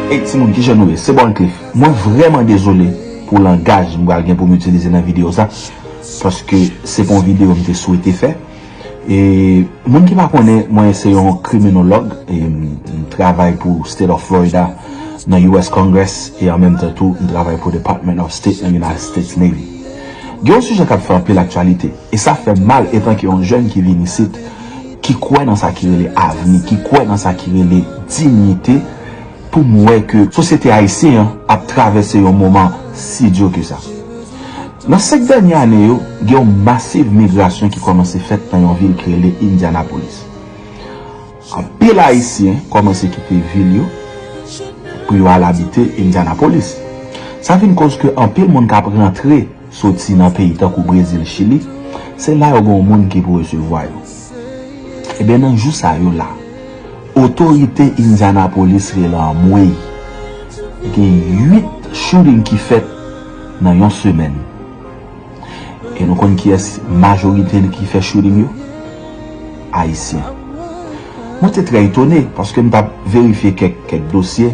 Hey timoun ki jan nou ye, se Born Cliff. Mwen vrèman dezole pou langaj m pral gen pou m itilize nan videyo sa paske se pa yon videyo m te swete fè. E moun ki pa konnen, mwen se yon kriminolog e m travay pou State of Florida nan US Congress e an menm tan tou m travay pou Department of State nan United States Navy. Gen yon sijè k ap fè anpil aktyalite. E sa fèm mal etanke yon jèn ki vin isit, ki kwè nan sa ki rele avni, ki kwè nan sa ki rele dinyite, pou m wè ke sosyete ayisyen an ap travèse yon moman si di ke sa. Nan 5 dènye ane yo, gen yon masiv migrasyon ki kòmanse fèt nan yon vil ki rele Indianapolis. Anpil ayisyen kòmanse kite vil yo pou yo al abite Indianapolis. Sa vin koz ke anpil moun k ap rantre. soti nan peyi tankou Brezil, Chili, se la yo gen yon moun ki pou resevwa yo. Ebyen nan jou sa yo la, otorite Indianapolis rele anmweyy, gen 8 shooting ki fèt nan yon semèn. E nou konn kiyès majorite li ki fè shooting yo? Ayisyen. Mwen te trè etone, paske m t ap verifye kèk dosye,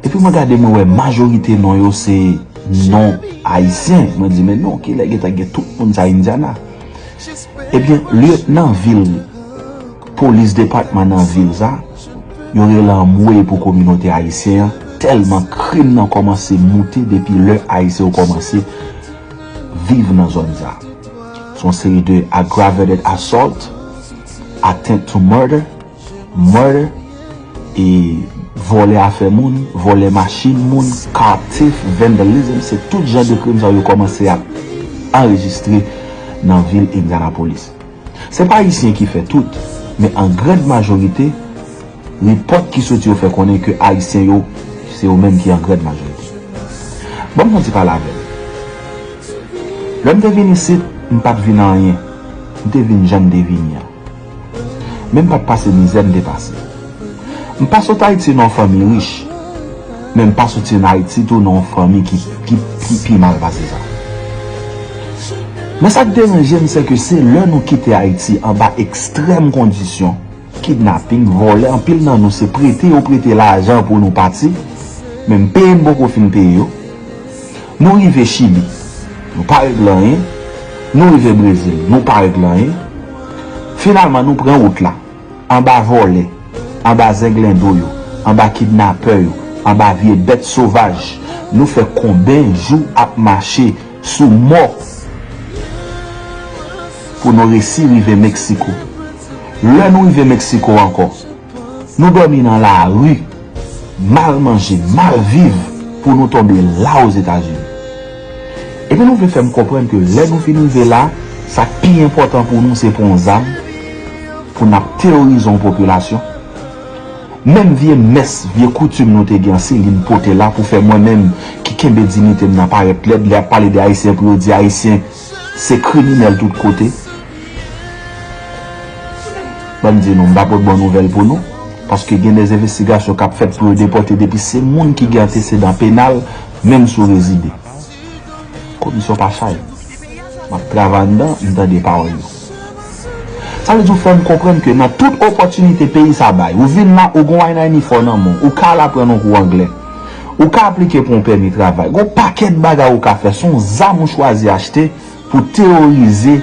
epi mwen gade mwen wè majorite non yo se. Non ayisyen mwen di men non kilè gentan gen tout moun sa indiana ebyen lieutenant vil polis depatman nan vil sa yo rele anmwey pou kominote ayisyen an tèlman krim nan kòmanse moute depi lè ayisyen yo kòmanse viv nan zòn sa son seri de aggravated assault attempt to murder murder e vòlè afè moun, vòlè machin moun, car thief, vandalism se tout jan de krim sa yo kòmanse ap anrejistre nan vil Indianapolis. Se pa ayisyen ki fè tout, men an grand majorite, repòt ki soti yo fè konnen ke ayisyen yo se yo menm ki an grand majorite. Banm fon ti pale avèw. Lèm te vin isit, m pat vin anyen. M te vin janm te vini an. Men m pat pase mizè m te pase. M pa sot Ayiti nan yon fanmi rich, men m pa soti an Ayiti tou nan yon fanmi ki pi mal pase sa. Men sa k deranje m se ke se lè nou kite Ayiti anba ekstrèm kondisyon, kidnaping, vòlè, anpil nan nou se prete yo prete lajan pou nou pati, menm peye n poko fin peye yo. Nou rive Chili, nou pa regle anyen, nou rive Brezil, nou pa regle anyen, Finalman nou pran wout la. Anba vòlè, anba zenglendo yo, anba kidnapè yo, anba vye bèt sovaj, nou fè konben jou ap mache sou mò pou nou resi rive Meksiko. Lè nou rive Meksiko ankò. Nou dòmi nan lari, mal manje, mal viv pou nou tonbe la Ozetazini. Epi nou vle fè m konprann ke lè nou fin rive la, sa k pi enpòtan pou nou se pran yon zam pou n ap teyorize yon popilasyon? Menm vye mès, vye koutim nou te gen an Céline pote la pou fè mwen menm ki kenbe dinite m nan parèt lèd lè y ap pale de Ayisyen pou yo di Ayisyen Se kriminèl tout kote. Ban m di nou, m pa pot bon nouvèl pou nou, paske gen de envestigasyon k ap fèt pou yo depòte depi se moun ki gen antesedan penal, menm si w rezide. Komisyon pa chay. M ap travay anndan, m tande pawòl yo. Sa vle di ou fèm konprann ke nan tout opòtinite peyi sa bay, ou vin la ou gon aynayni fò nan men w, ou ka al aprann yon kou anglè, ou ka aplike pou yon pèmi travay, gon pakèt bagay ou ka fè, son zam ou chwazi achte pou teworize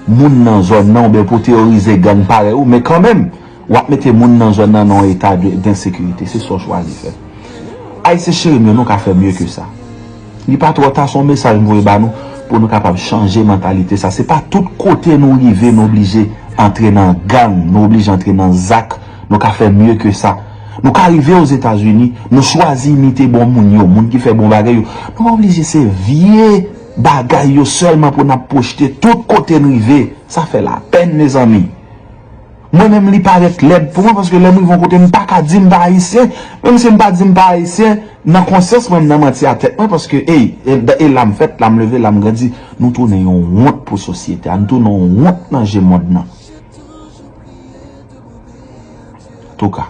moun nan zòn nan oubyen pou teworize gang parèy ou men kanmenm. Wap mete moun nan zòn nan nan yon eta densekirite, se sa w chwazi fè. Ayisyen cheri m yo, nou ka fè mye ke sa. Li pa twò ta, se yon mesaj m voye ba nou pou nou kapab chanje mantalite sa. Se pa tout kote nou rive nou oblije antre nan gang, nou oblije antre nan zak, nou ka fè mye ke sa. Nou ka rive Ozetazini, nou chwazi imite bon moun yo, moun ki fè bon bagay yo. Nou pa oblije se vye bagay yo sèlman pou n ap pwochte tout kote n rive. Sa fè lapèn mezanmi. Mwen menm li parèt lèd pou mwen paske lèm rive yon kote mpaka di mpa ayisyen menm si mpa di mpa ayisyen nan konsyans mwen mnan manti a tèt mwen paske ey e lam fèt lam leve lam grandi nou tounen yon wont pou sosyete a nou tounen yon wont nan je mond nan antouka.